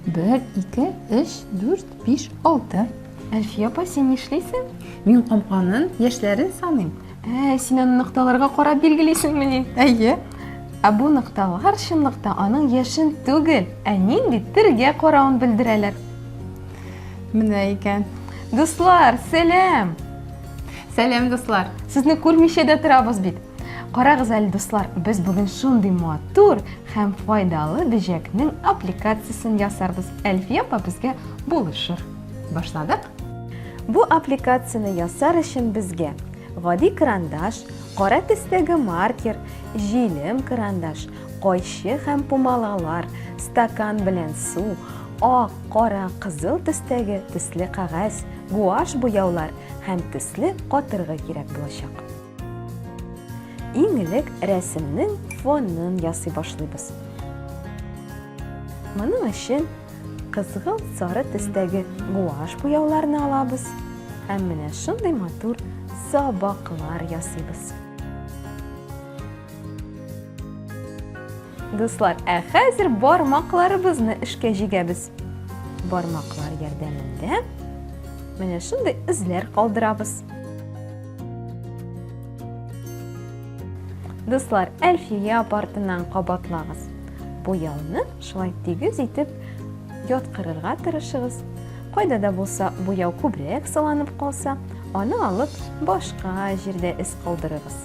Бер, ике, өч, дүрт, биш, алты. Әлфия апа, син нишлисең? Мин камканын яшьләрен саныйм. Ә, син аны нокталарга карап билгелисеңмени? Әйе. Ә бу нокталар чынлыкта аның яшен түгел, ә нинди тиргә каравын белдерәләр. Менә икән. Дуслар, сәлам! Сәлам, дуслар! Сезне күрмичә дә торабыз бит. Карагыз әле, дуслар, без бүген шундый матур һәм файдалы бөҗәкнең аппликациясен ясарбыз. Әлфия апа безгә булышыр. Башладык. Бу аппликацияне ясар өчен безгә гади карандаш, кара төстәге маркер, җилем карандаш, кайчы һәм пумалалар, стакан белән су, ак, кара, кызыл төстәге төсле кагаз, Гуашь буяулар һәм төсле катыргы кирәк булачак. Иң элек рәсемнең фонын ясый башлыйбыз. Моның өчен кызгыл сары төстәге гуашь буяуларны алабыз һәм менә шундый матур сабаклар ясыйбыз. Дуслар, ә хәзер бармакларыбызны эшкә җигәбез. Бармаклар ярдәмендә менә шундый эзләр калдырабыз. Дуслар, Әлфия апартыннан кабатлагыз. Буяуны шулай тигез итеп яткырырга тырышыгыз. Кайда да булса буяу күбрәк салынып калса, аны алып башка җирдә эз калдырыгыз.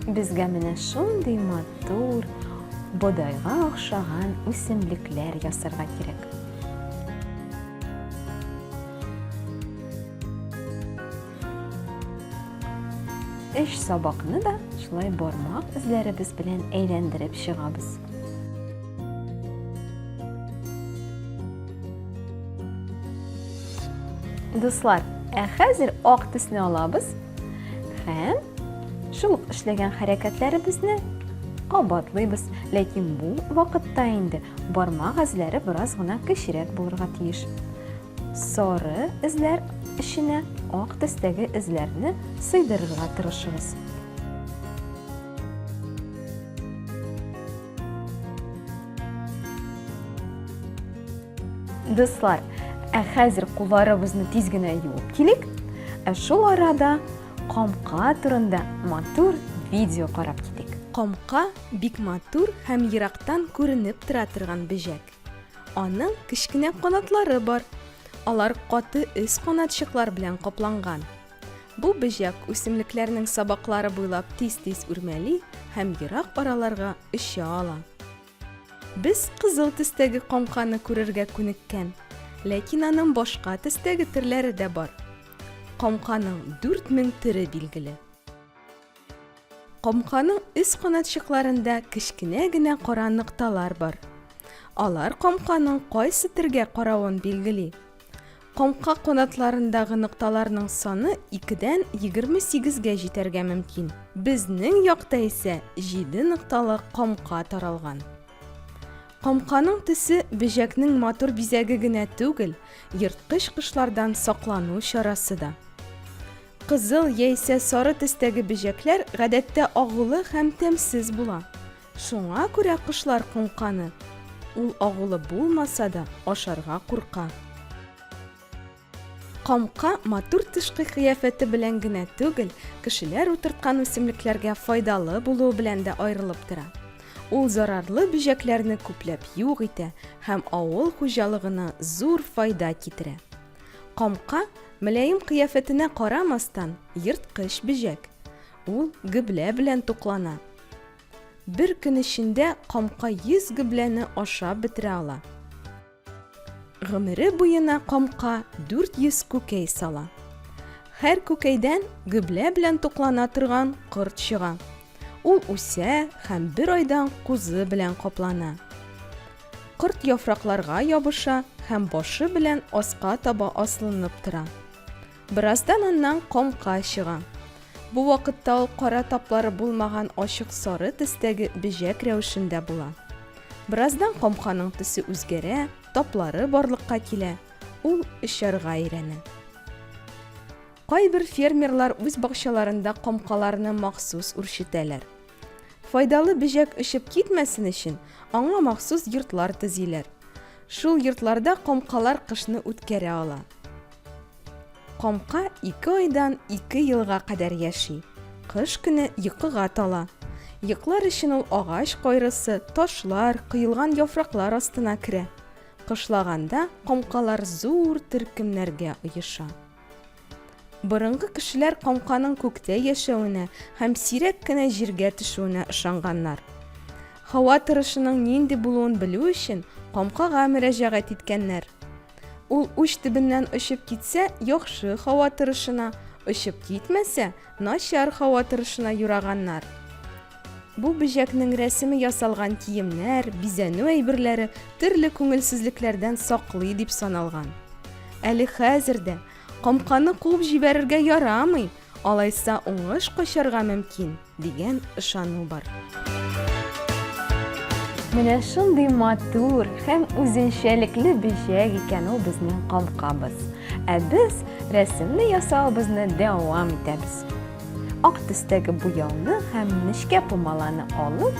Безгә менә шундый матур, бодайга охшаган үсемлекләр ясарга кирәк. Эш сабакны да шулай бармак эзләребез белән әйләндереп чыгабыз. Дуслар, ә хәзер ак төсне алабыз Һәм шул ук эшләгән хәрәкәтләребезне кабатлыйбыз, ләкин бу вакытта инде бармак эзләре бераз гына кечерәк булырга тиеш. Сары эзләр эченә ак төстәге эзләрне сыйдырырга тырышыгыз. Дуслар, ә хәзер кулларыбызны тиз генә юып килик. Ә шул арада камка турында матур видео карап китик. Камка бик матур һәм ерактан күренеп тора торган бөҗәк. Аның кечкенә канатлары бар. Алар каты өс канатчыклар белән капланган. Бу бөҗәк үсемлекләрнең сабаклары буйлап тиз-тиз үрмәли һәм ерак араларга оча ала. Без кызыл төстәге коңканы күрергә күнеккән, ләкин аның башка төстәге төрләре дә бар. Коңканың 4000 төре билгеле. Коңканың өс канатчыкларында кечкенә генә кара нокталар бар. Алар коңканың кайсы төргә каравын билгели. Коңка канатларындагы нокталарның саны икедән егерме сигезгә җитәргә мөмкин. Безнең якта исә җиде нокталы коңка таралган. Коңканың төсе бөҗәкнең матур бизәге генә түгел, ерткыч кошлардан саклану чарасы да. Кызыл яисә сары төстәге бөҗәкләр гадәттә агулы һәм тәмсез була. Шуңа күрә кошлар коңканы. Ул агулы булмаса да, ашарга курка. Камка матур тышкы кыяфәте белән генә түгел, кешеләр утырткан үсемлекләргә файдалы булуы белән дә аерылып тора. Ул зарарлы бөҗәкләрне күпләп юк итә һәм авыл хуҗалыгына зур файда китерә. Камка, мөлаем кыяфәтенә карамастан, ерткыч бөҗәк. Ул гөблә белән туклана, Бер көн эчендә камка 100 гөбләне ашап бетерә ала. Гомере буена камка 400 күкәй сала. Һәр күкәйдән гөблә белән туклана торган корт чыга. Ул үсә һәм бер айдан кузы белән каплана. Корт яфракларга ябыша һәм башы белән аска таба аслынып тора. Бераздан аннан камка чыга. Бу вакытта ул кара таплары булмаган ачык сары төстәге бөҗәк рәвешендә була. Бераздан камканың төсе үзгәрә, таплары барлыкка килә, ул очарга өйрәнә. Кайбер фермерлар үз бакчаларында камкаларны махсус үрчетәләр. Файдалы бөҗәк очып китмәсен өчен, аңа махсус йортлар төзиләр. Шул йортларда камкалар кышны үткәрә ала. Камка ике айдан ике елга кадәр яши. Кыш көне йокыга тала. Йоклар өчен ул агач кайрысы, ташлар, коелган яфраклар астына керә. Кышлаганда камкалар зур төркемнәргә оеша. Борынгы кешеләр камканың күктә яшәвенә һәм сирәк кенә җиргә төшүенә ышанганнар. Һава торышының нинди булуын белү өчен камкага мөрәҗәгать иткәннәр. Ул уч төбеннән очып китсә, яхшы һава торышына, очып китмәсә, начар һава торышына юраганнар. Бу бөҗәкнең рәсеме ясалган киемнәр, бизәнү әйберләре төрле күңелсезлекләрдән саклый дип саналган. Әле хәзер дә, Камканы куып җибәрергә ярамый! Алайса уңыш качарга мөмкин, дигән ышану бар. Менә шундый матур һәм үзенчәлекле бөҗәк икән ул безнең камкабыз. Ә без рәсемне ясавыбызны дәвам итәбез. Ак төстәге буяуны һәм нечкә пумаланы алып,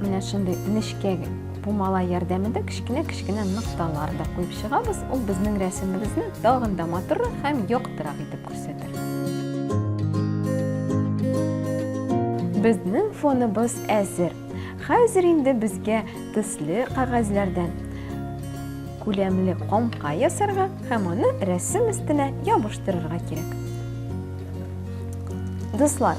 Менә шундый нечкә пумала ярдәмендә кечкенә-кечкенә нокталар да куеп чыгабыз. Ул безнең рәсемебезне тагын да матуррак һәм яктырак итеп күрсәтер. Безнең фоныбыз әзер. Хәзер инде безгә төсле кагазьләрдән күләмле комка ясарга һәм аны рәсем өстенә ябыштырырга кирәк. Дуслар,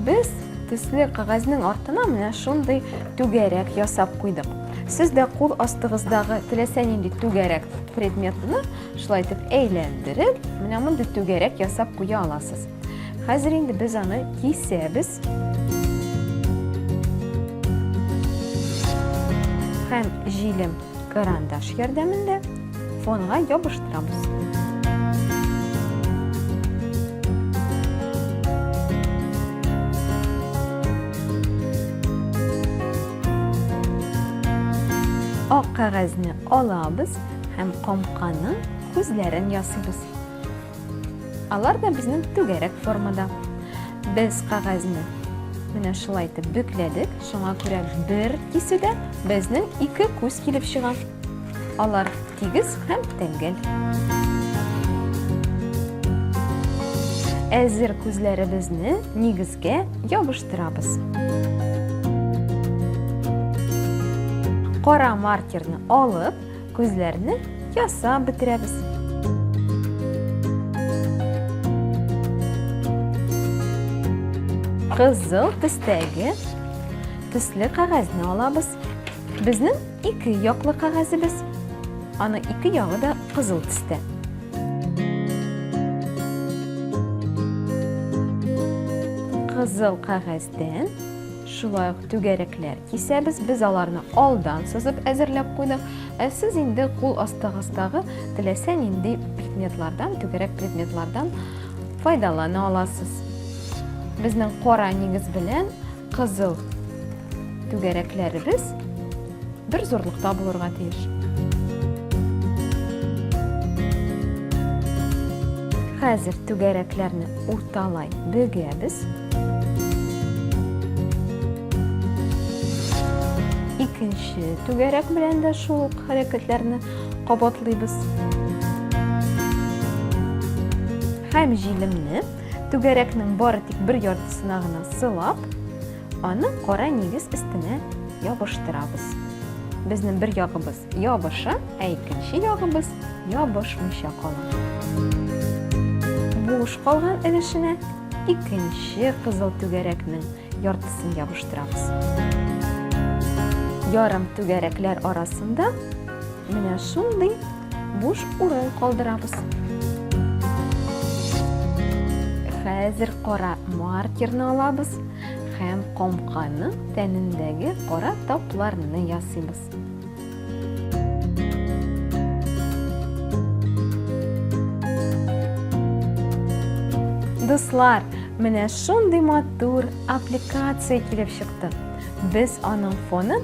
Без төсле кәгазьнең артына менә шундый түгәрәк ясап куйдык. Сез дә кул астыгыздагы теләсә нинди түгәрәк предметны шулай итеп әйләндереп, менә мондый түгәрәк ясап куя аласыз. Хәзер инде без аны кисәбез. Һәм җилем карандаш ярдәмендә Фонга ябыштырабыз. ак кәгазьне алабыз һәм комканың күзләрен ясыйбыз. Алар да безнең түгәрәк формада. Без кәгазьне менә шулай итеп бөкләдек, шуңа күрә бер кисүдә безнең ике күз килеп чыга. Алар тигез һәм тәңгәл. Әзер күзләребезне нигезгә ябыштырабыз. Кара маркерны алып, күзләрне ясап бетерәбез. Кызыл төстәге төсле кәгазьне алабыз. Безнең Ике яклы кәгазебез. Аны ике ягы да кызыл төстә. Кызыл кәгазьдән шулай ук түгәрәкләр кисәбез. Без аларны алдан сызып әзерләп куйдык. Ә сез инде кул астыгыздагы теләсә нинди предметлардан, түгәрәк предметлардан файдалана аласыз. Безнең кара нигез белән Кызыл. Түгәрәкләребез бер зурлыкта булырга тиеш. Хәзер түгәрәкләрне урталай бөгәбез. Икенче түгәрәк белән дә шул ук хәрәкәтләрне кабатлыйбыз. Һәм җилемне Түгәрәкнең бары тик бер яртысына гына сылап, аны кара нигез өстенә ябыштырабыз. Безнең бер ягыбыз ябыша, ә икенче ягыбыз ябышмыйча кала. Буш калган өлешенә икенче кызыл түгәрәкнең яртысын ябыштырабыз. Ярым түгәрәкләр арасында менә шундый Буш урын калдырабыз. Хәзер кара маркерны алабыз һәм комканың тәнендәге кара тапларны ясыйбыз. Дуслар, менә шундый матур аппликация килеп чыкты. Без аның фонын